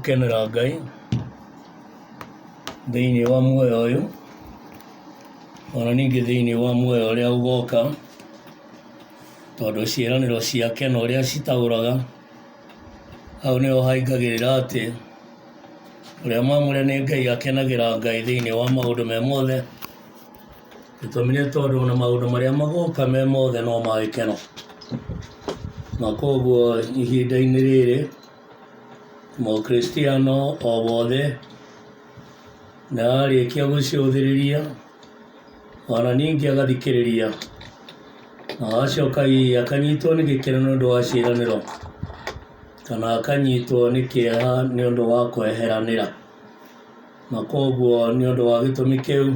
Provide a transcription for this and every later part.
gũkenera ngai thĩinĩ wa muoyo ũyũ ona ningĩ thĩinĩ wa muoyo ũrĩa ũgoka tondũ ciĩranĩro ciake na ũrĩa citaũraga, hau nĩho haingagĩrĩra atĩ ũrĩa mwamũre nĩ Ngai akenagĩra Ngai thĩinĩ wa maũndũ me mothe, gĩtũmi nĩ tondũ ona maũndũ marĩa magoka me mothe no ma gĩkeno, na koguo ihinda-inĩ rĩrĩ Mũkristiano o wothe nĩ ararĩkia gũcũthĩrĩria ona ningĩ agathikĩrĩria na acoka hihi akanyitwo nĩ gĩkeno nĩ ũndũ wa ciĩranĩro kana akanyitwo nĩ kĩeha nĩ ũndũ wa kweheranĩra na koguo nĩ ũndũ wa gĩtũmi kĩu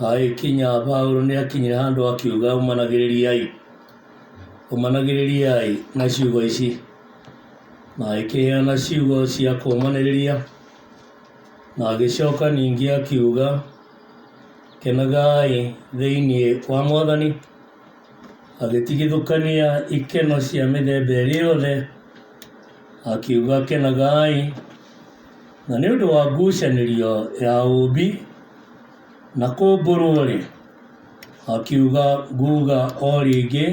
agĩkinya Paulo nĩ akinyire handũ akiuga umanagĩrĩriai umanagĩrĩriai na ciugo ici na agĩkĩheana ciugo cia kũmanĩrĩria Na agĩcoka ningĩ akiuga, Kenagai thĩinĩ wa Mwathani. Agĩtigithũkania ikeno cia mĩthemba ĩrĩ yothe, akiuga, Kenagai. Na nĩ ũndũ wa ngucanĩrio ya ũũmbi na kũmbũrwo-rĩ, akiuga, Nguuga o rĩngĩ,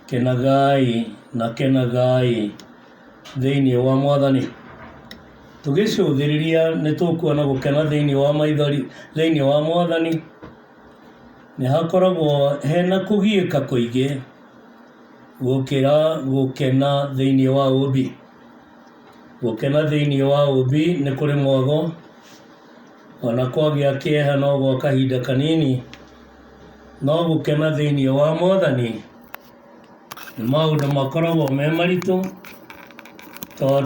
Kenagai na kenagai. thĩinĩ wa mwathani. Tũgĩcũthĩrĩria nĩ tũkuona gũkena thĩinĩ wa maithori thĩinĩ wa mwathani. Nĩ hakoragwo hena kũgiĩka kũingĩ gũkĩra gũkena thĩinĩ wa ũmbi. Gũkena thĩinĩ wa ũmbi nĩ kũrĩ mwago, ona kwagĩa kĩeha no gwa kahinda kanini, no gũkena thĩinĩ wa mwathani, nĩ maũndũ makoragwo me maritũ tondũ.